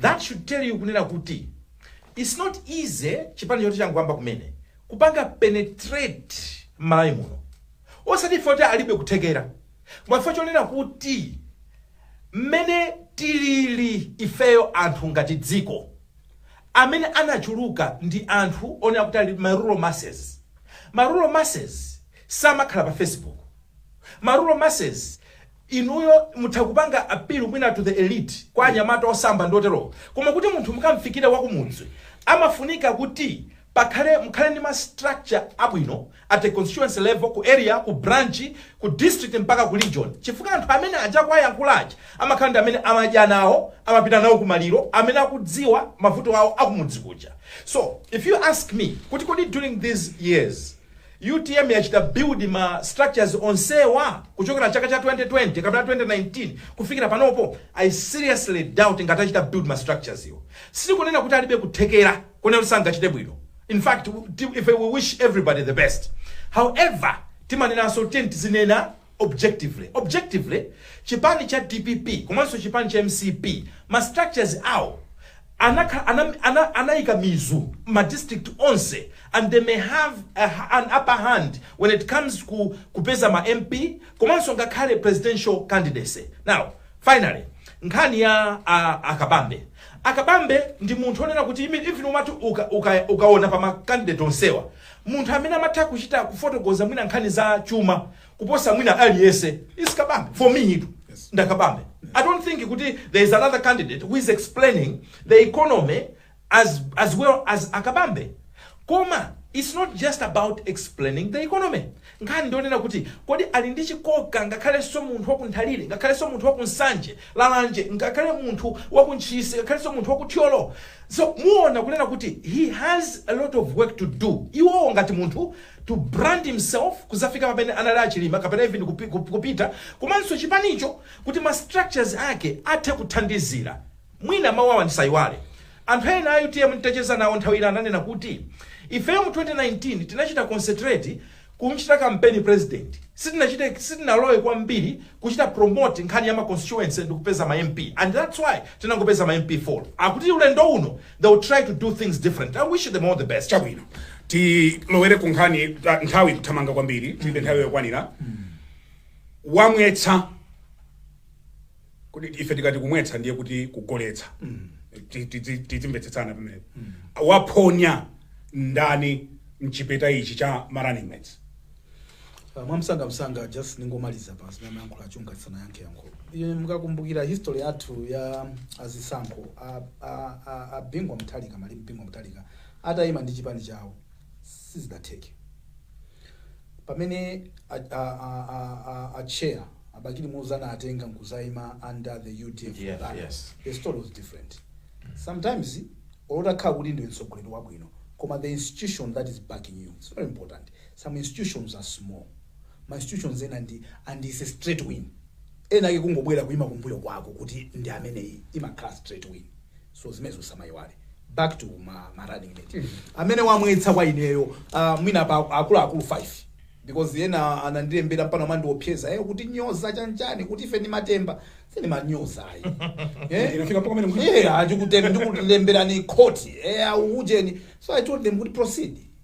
That should tell you kunena kuti it's not easy chipani choti changoyamba kumene kupanga penetrate malawi muno osati ife kuti alibe kuthekera koma chifukwa chonena kuti mmene tilili ifeyo anthu ngati dziko amene anachuluka ndi anthu onena kuti ali ma rural masses ma rural masses samakhala pa facebook ma rural masses Inuyo mutha kupanga appeal mwina to the elite kwa anyamata osamba ndi oterowo koma kuti munthu mukamfikire wakumudzi amafunika kuti pakhale mukhale ndi ma structure abwino at a constituency level, ku area, ku branch, ku district mpaka ku region chifukwa anthu amene aja akuwayankhula aja amakhala ndi amene amadya nawo, amapita nawo kumaliro, amene akudziwa mavuto awo akumudzi kuja. So, if you ask me kuti kodi during these years. Utm yachita build ma structures onsewa kuchokera chaka cha 2020 kapena 2019 kufikira panopo? I seriously doubt ngati atachita build ma structureswo. Sitikunena kuti alibe kuthekera konena kuti sangachite bwino. In fact, ife we wish everybody the best. However, timanenanso tiyeni tizinena. objectively objectively chipani cha dpp komanso chipani cha mcp ma structures awo anakhala ana, ana, anayika mizu ma district onse and they may have a, ha- an upper hand when it comes ku kupeza ma mp komanso ngakhale presidential candidacy now finally nkhani ya a, akabambe akabambe ndi munthu onena kuti imi- even umati uka- uka- ukaona pa ma candidate onsewa Munthu amene amatha kuchita kufotokoza mwina nkhani za chuma kuposa mwina aliyese ndi a Kabambe for me itu ndi a Kabambe. I don't think kuti there is another candidate who is explaining the economy as, as well as Akabambe koma it's not just about explaining the economy Nkhani ndi yonena kuti kodi ali ndi chikoka ngakhalenso munthu wa ku Nthalire, ngakhalenso munthu wa ku Nsanje, Lalanje, ngakhale munthu wa ku Ntchisi, ngakhalenso munthu wa ku Thyolo. So muona kunena kuti he has a lot of work to do. Iwowo ngati munthu to brand himself kuzafika pamene anali a Chilima kapena even kupi, kup- kupita komanso chipanicho kuti ma structures ake athe kuthandizira. Mwina mawu awa ndisaiwale. Anthu ena a utm nditacheza nawo nthawi ina ananena kuti, Ifeyo mu 2019 tinachita concentrate kumchita kampeni president. Sitinachite sitinalowe kwambiri kuchita promote nkhani ya ma constituency ndi kupeza ma MP and that's why tinangopeza ma MP 4. Akuti ulendo uno they will try to do things different. I wish them all the best. chabwino tilowere ku nkhani ta- nthawi kuthamanga kwambiri tilibe nthawi yokwanira wamwetsa kodi ife tikati kumwetsa ndiye kuti kugoletsa Ti- tidzi- tidzimvetsetsana pamenepo waphonya ndani mchipeta ichi cha ma running mates Uh, mwamsanga msanga just ndingomaliza pa zimene amayankhula a Chunga ndisanayankhe yankho Ine mukakumbukira history yathu ya azisankho a- a- a- a Bingu wa Mutharika malemu Bingu wa Mutharika atayima ndi chipani chawo sizidatheke pamene a, a, a, a, a, a chair a Bakili Muluzi anatenga nkuzaima under the udf Yeah, banner, yes. the story was different sometimes olotakhala kuti ndiwe mtsogoleri wabwino koma the institution that is backing you it's very important some institutions are small ma institutions ena ndi and is a straight win ena ake kungobwera kuima kumbuyo kwako kuti ndi ameneyi imakhala straight win so zimenezo samayiwale back to ma, ma running mate amene wamwetsa kwa ineyo uh, mwina pa akuluakulu 5 because ena anandilembera mpano amandiopseza eh, ukutinyoza chanchani kuti ife ndi matemba sindimanyoza ayi eh? Inafika mpaka pamene mwa- Yeah, ndikutem- ndikulemberani khoti eh, aujeni so i told them kuti proceed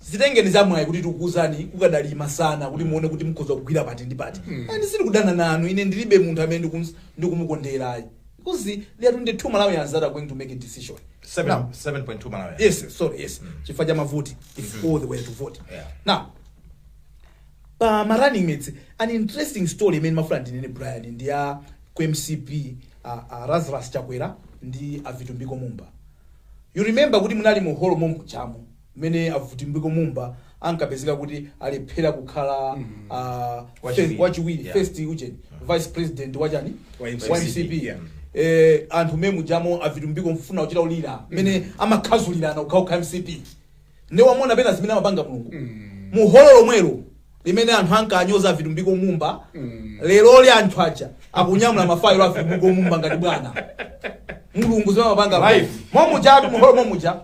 Zitengeni za mwayi kuti tikuuzani kukadali masana kuti muone kuti mukhoza kugwira pati ndi pati. And sindikudana nanu ine ndilibe munthu amene ndikums- ndikumukondera ayi. Because there are 22 Malawians that are going to make a decision. Seven- Now, 7.2 Malawi. yes, yes, sorry, yes. Chifukwa cha mavoti if all they were to vote. Yeah. Now, pa ma running mates an interesting story imene mafuna ndinene Brian ndi ya ku MCP uh, uh, Lazarus Chakwera ndi a Vitumbiko Mumba. You remember kuti munali mu hall momwe mujamo. mmene a Vitumbiko Mumba ankapezeka kuti alephera kukhala ah, Wachiwiri. first- wachiwiri Yeah. first ujeni vice president wachani Wa MCP. wa mcp Yeah. eh, anthu momwe mujamo a Vitumbiko kufuna kuchita kulira mmene amakhazulirana kukhaukha mcp nde wamuona pena zimene amapanga mulungu mu holo lomwelo limene anthu ankanyoza a vitumbiko mumba leroli anthu aja akunyamula mafailo a vitumbiko mumba ngati bwana mulungu zimene amapanga Life. momujatu muholo momuja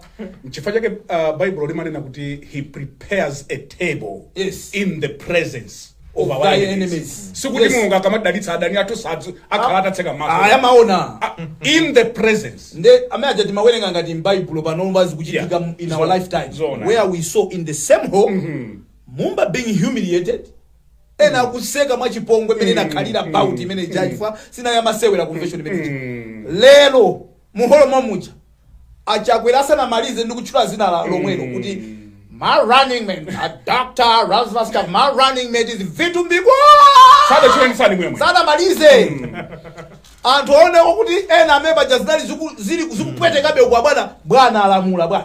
nchifukwa chake uh, baibulo limanena kuti he prepares a table Yes. in the presence of Of our thy enemies, enemies. sikuti Yes. mulungu akamadalitsa adani athu sadzu akhala atatseka ayi maso amaona Ah, in the presence nde amene aja timawerenga ngati m'baibulo panopa zikuchitika Yeah. in our Zo- lifetime zona. where we saw in the same hall Mumba being humiliated ena akuseka mwachipongwe mmene inakhalira bout imene ija chifukwa sinali yamasewera convention imene ija lero mu holo momuja achakwera asanamalize ndi kutchula dzina la lomwelo kuti my running mate a doctor Lazarus Chak- my running mate is Vitumbiko asadatchule ndi surname yomwe. sanamalize anthu aoneko kuti ena amene paja zinali ziku- zili zikupwetekabe kwa bwana bwana alamula bwana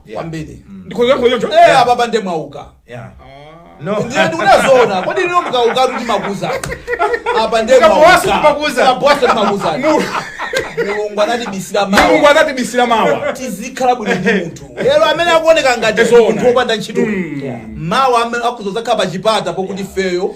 kwambiri ndikhoza kuyankha choncho Eh, apa pande mwauka Yeah. No. ndiye ndikunena zoona kodi lino mukauka timakuuza apa nde Mukabowasa mwauka. timakuuza. Mukabowasa timakuuza. mulungu anatibisira mulungu mawa anatibisira mawa tizikhala bwino ndi munthu lero amene akuoneka ngati Zoona. munthu wopanda ntchito mawa amene akudzakhala pa chipata pokuti ifeyo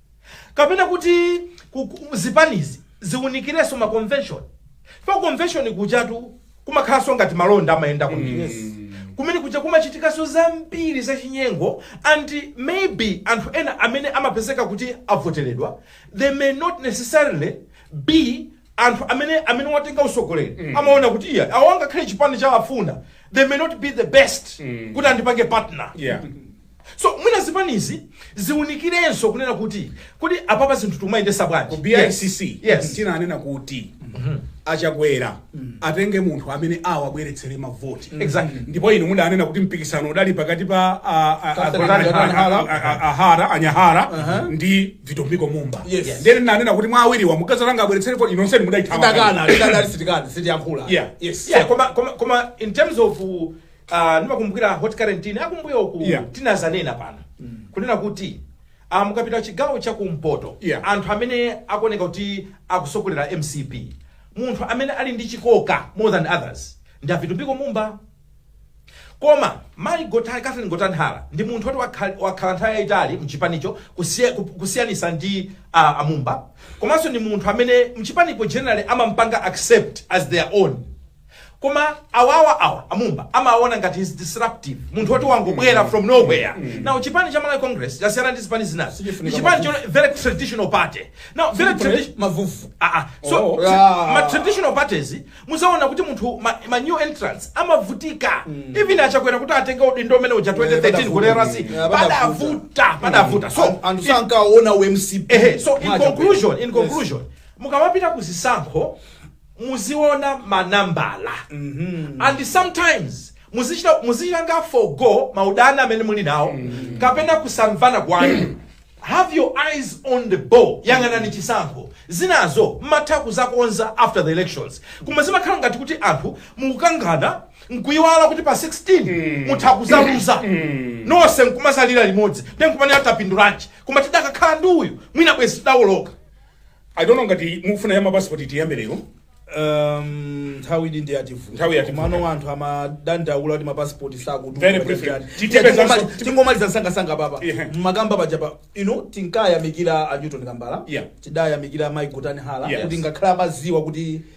kapena kuti ku- ku- zipanizi ziwunikirenso ma convention pa convention kujatu kumakhalanso ngati malonda amayenda kwambiri kumene kuja kumachitikanso zambiri zachinyengo and maybe anthu ena amene amapezeka kuti avoteredwa they may not necessarily be anthu amene amene watenga usogoleri amaona kuti iya awa ngakhale chipani chawafuna they may not be the best kuti andipange partner Yeah. So mwina zipanizi ziunikirenso kunena kuti kodi apapa zinthu tumayendesa bwanji? Ku BICC yes. Tinanena kuti achakwera atenge munthu amene awabweretsere mavoti Exactly. ndipo inu mudanena kuti mpikisano udali pakati pa a- a- a- Gotani a- a- Hara. a- a- a- ahara anyahara ndi vitumbiko mumba Yes. ndene nanena kuti mwa awiriwa mukazalanga abweretsere voti inonseni mudayithawa lidakana lidadali sitikana sitiyankhula Yeah. yes Yeah, koma koma koma in terms of uh, Ah, ndimakumbukira Hot Current akumbuyoku Yeah. tinazanena pano kunena kuti ah, mukapita chigawo cha kumpoto Yeah. anthu amene akuoneka kuti akusogolera mcp munthu amene ali ndi chikoka more than others ndi a vitumbiko mumba koma mayi Gota- catherine gotani hara ndi munthu woti wakha- wakhala nthawi yayitali mchipanicho kusiya- ku- kusiyanisa ndi ah, amumba komanso ndi munthu amene mchipanimo generally amampanga accept as their own Koma awawa awa amumba amaona ngati is disruptive munthu woti wangobwera mm. from nowhere mm. now chipani cha Malawi Congress chasiyana ndi zipani zinazo ni chipani chona very traditional party now very traditional mavuvu ah ah so oh. yeah. ma traditional parties muzaona kuti munthu ma, ma new entrants amavutika mm. even achakwera kuti atenge udindo umene uja 2013 ku NRC padavuta padavuta so anthu sankaona UMCP eh so in conclusion in conclusion yes. mukamapita kuzisankho muziona ma nambala and sometimes muzichita muzichitanga forgo maudani amene muli nawo kapena kusamvana kwanu have your eyes on the ball yang'anani chisankho zinazo mmatha kuzakonza after the elections koma zimakhala ngati kuti anthu mukukangana nkuyiwala kuti pa 16 mutha kuzaluza nonse nkumazalira limodzi nde nkumanena tapindulanji koma tidakakhala ndi uyu mwina bwezi tidawoloka i don't know ngati mufuna ya mapasipoti tiyambe lero Um, nthawi ndi ndi yativu- Nthawi yativuta. mano anthu amadandaula kuti mapasipoti Very briefly. Titipeza so- sakutuma tingomaliza msangasanga papa Yeah. mmakamba paja pano tinkayamikira a newton kambala Yeah. tidayamikira mai gotani hara Yes. kuti ngakhale amaziwa kuti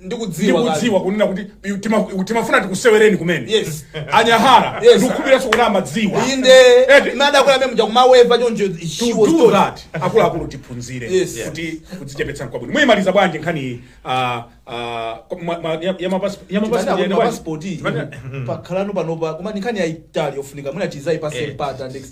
ndikudziwa kale. ndikudziwa kunena kuti pi- tima- timafuna tikusewereni kumene Yes. anyahara Yes. ndikukhulupirira kuti amadziwa inde Eti. madakwera amene muja kumaweva choncho she was told that akuluakulu tiphunzire Yes. kuti kudzichepetsa nkwabwino muyimaliza bwanji nkhani iyi, ah, ah, ma- ma- ya- ya mapasi- ya mapasi- Tibanda ya- kuna ya- pasipoti Tibanda- pakhalano panopa koma ni nkhani yayitali yofunika mwina tizaipase Eh. mpata next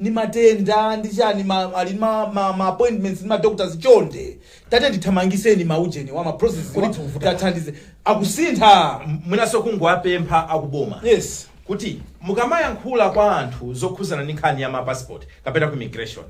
ndi matenda ndi chani ma, ali ma, ma, ma appointments ndi ma doctors chonde tatiyeni tithamangiseni ma ujeni wa ma process wa tathandize akusintha mwinaso kungowapempha akuboma yes kuti mukamayankhula kwa anthu zokhuzana ndi nkhani ya ma passport kapena ku immigration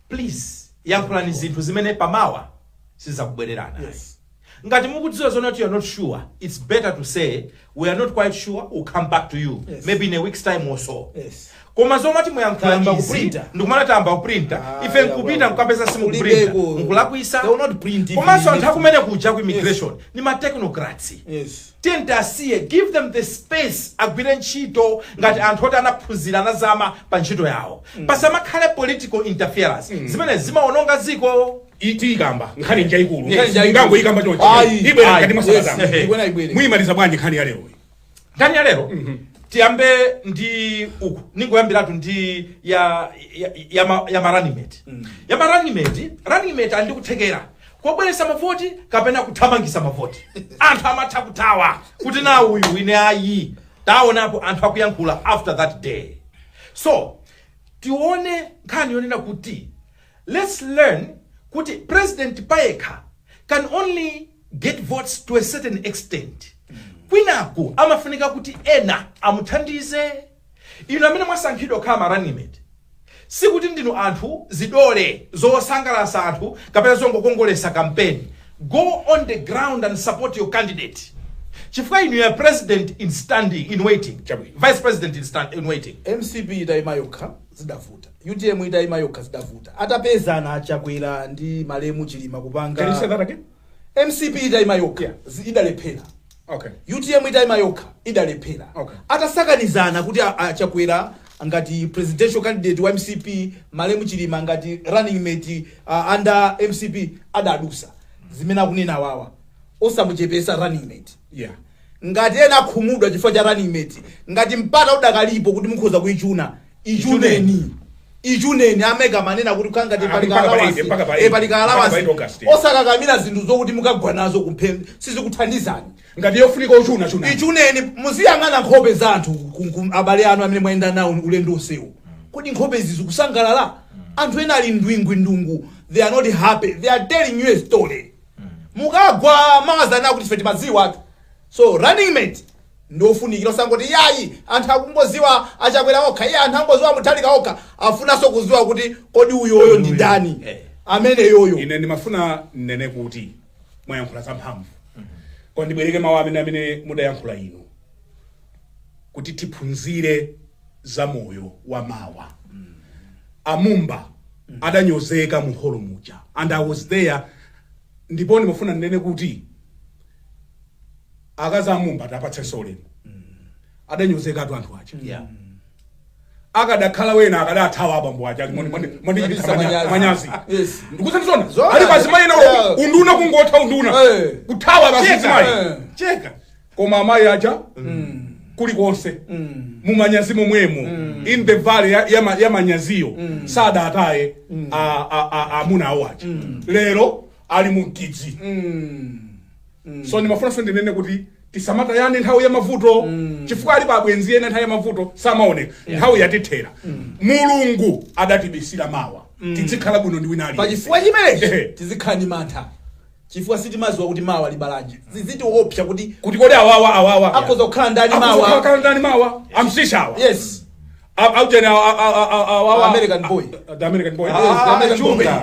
please yankhulani zinthu zimene pamawa sizakubwererani Yes. Ngati mukudziwa zoti you're not sure it's better to say we're not quite sure we'll come back to you Yes. maybe in a weeks time or so Yes. koma zomati muyankhula Tayamba izi kuprinta. ndikumanena tayamba kuprinta Ah, ife nkupita yawa. nkukapeza simukuprinta Kulibeko. nkulakwisa They will not print it. komanso anthu akumene kuja ku immigration ni ma technocrats Yes. tiyeni tiasiye give them the space agwire ntchito ngati anthu oti anaphunzira anazama pa ntchito yawo pasamakhale political interference zimene zimaononga dziko tiikamba nkhani njaikulu Yes. Nkhani njaikulu. ngangoikamba chonchi Ayi. ibwera Ayi. mkati mwa Yes. sabata Ehe. Ibwera, ibwere. muyimaliza bwanji nkhani ya lero nkhani ya lero tiyambe ndi uku ningoyambiratu ndi ya ya, ya, ma- ya ma running mate ya ma running mate running mate ali ndi kuthekera kobweresa mavoti kapena kuthamangisa mavoti anthu amatha kuthawa kuti na uyu ine ayi taonapo anthu akuyankhula after that day so tione nkhani yonena kuti Let's learn kuti president payekha can only get votes to a certain extent. Kwinaku amafunika kuti ena amuthandize. Inu amene mwasankhidwa kukhala ma running mate sikuti ndinu anthu zidole zosangalatsa anthu kapena zongokongolesa kampeni. Go on the ground and support your candidate chifukwa inu you're president in standing in waiting, Chabwino. vice president in, stand, in waiting. mcp itayima yokha zidavuta Utm itaima yokha zidavuta. Atapezana a Chakwera ndi malemu Chilima kupanga. Can you say that again? MCP itaima yokha yeah. idalephera. Okay. UTM itaima yokha idalephera. Okay. Atasakanizana kuti a Chakwera ngati presidential candidate wa MCP malemu Chilima ngati running mate uh, under MCP adadusa. Zimene akunena wawa. Osamuchepesa running mate. Yeah. ngati ena akhumudwa chifukwa cha running mate ngati mpata udakalipo kuti mukhoza kuichuna ichuneni ichuneni a MEC akumanena kuti kukhala ngati Ah, pali mpaka pa kaalawansi. eight, mpaka pa Eh, eight. pali Mpaka pa kaalawansi. eight August, yeah. osakakamira zinthu zokuti mukagwa nazo kumphe sizikuthandizani ngati yofunika uchuna chuna ichuneni muziyang'ana nkhope za anthu ku- ku- abale anu amene mwayenda nawo ulendo wonsewu kodi nkhope izi zikusangalala anthu ena ali ndwingwindungu they are not happy they are telling you a story mukagwa mawa adzanena kuti ife timadziwatu So running mate ndi ofunikira osangoti yayi anthu akungoziwa a Chakwera okha iye anthu angoziwa Mutharika okha afunanso kuziwa kuti kodi uyoyo ndi ndani Eh. ameneyoyo ine ndimafuna nnene kuti mwayankhula zamphamvu koma ndibwereke mawu amene amene mudayankhula inu kuti tiphunzire za moyo wa mawa a Mumba adanyozeka mu holo muja and i was there ndipo ndimafuna nnene kuti akazi a Mumba tapatseniso ulemu adanyozekatu anthu aja Yeah. akadakhala wena akadathawa abambo aja Machititsa manyazi. manyazi Yes. ndikusanisona Zona. ali pazimayi na Yeah. unduna kungotha unduna Eh. kuthawa Cheka. basizimayi Eh. cheka koma amayi aja kulikonse mumanyazi momwemo in the valley ya- ya ma- ya manyaziyo sadataye a- a- a- amuna awo aja lero ali mu m'tidzi so ndimafunanso ndinene kuti tisamatayane nthawi ya mavuto chifukwa alipo abwenzi ena nthawi ya mavuto samaoneka nthawi yakwithera mulungu adatibisira mawa tidzikhala bwino ndi wina aliyense pachifukwa chimenechi Ehe. tizikhala ndi mantha chifukwa sitimadziwa kuti mawa libalanji zizitiopsa kuti kuti kodi awawa awawa akhoza kukhala ndani Akhoza mawa kukhala ndani mawa amsishawa yes Au- au tena, au- au- au- au- au- American boy. the American boy. Yes, the Ah, American chumba. boy.